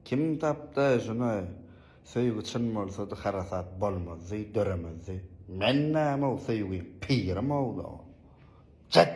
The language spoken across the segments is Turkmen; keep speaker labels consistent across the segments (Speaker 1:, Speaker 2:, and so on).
Speaker 1: Kim tapdy şuny söýgi çyn bolsady harasat bolmazdy döremezdi men nämow söýgi pirimow da ol jett.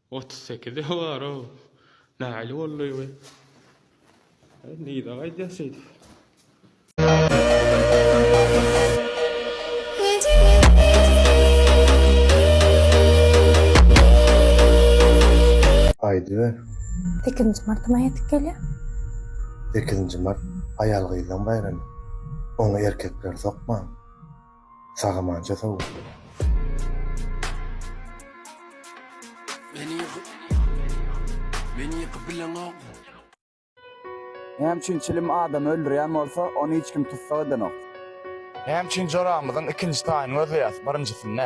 Speaker 1: Otuz sekize bar-ow. Nähili boldy bu? Aý, nirä gaýdýas şeýdip? Aýdyber. Sekizinji martym ýetip gelýär. Sekizinji mart aýal-gyzlaň baýramy. Oňa erkekler sokman. Sagamança sag bol. Näme üçin çilim adamy öldürýän bolsa, ony hiç kim tussag edenok? Näme üçin joramyzyň ikinji taýyny gözleýäs, birinjisini?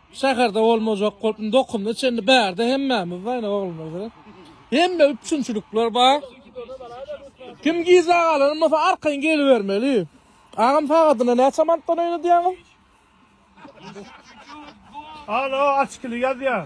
Speaker 1: Şäherde bolmajak bolup indi okumda çenli bärde hemmämiz bar indi oglanlarda. Hemme üpjünçilikler bar. Kim gijä galan bolsa arkaýyn gelibermeli. Agam sagadyna näçe manatdan oýnadýaňyz? Alo açkili ýazýar.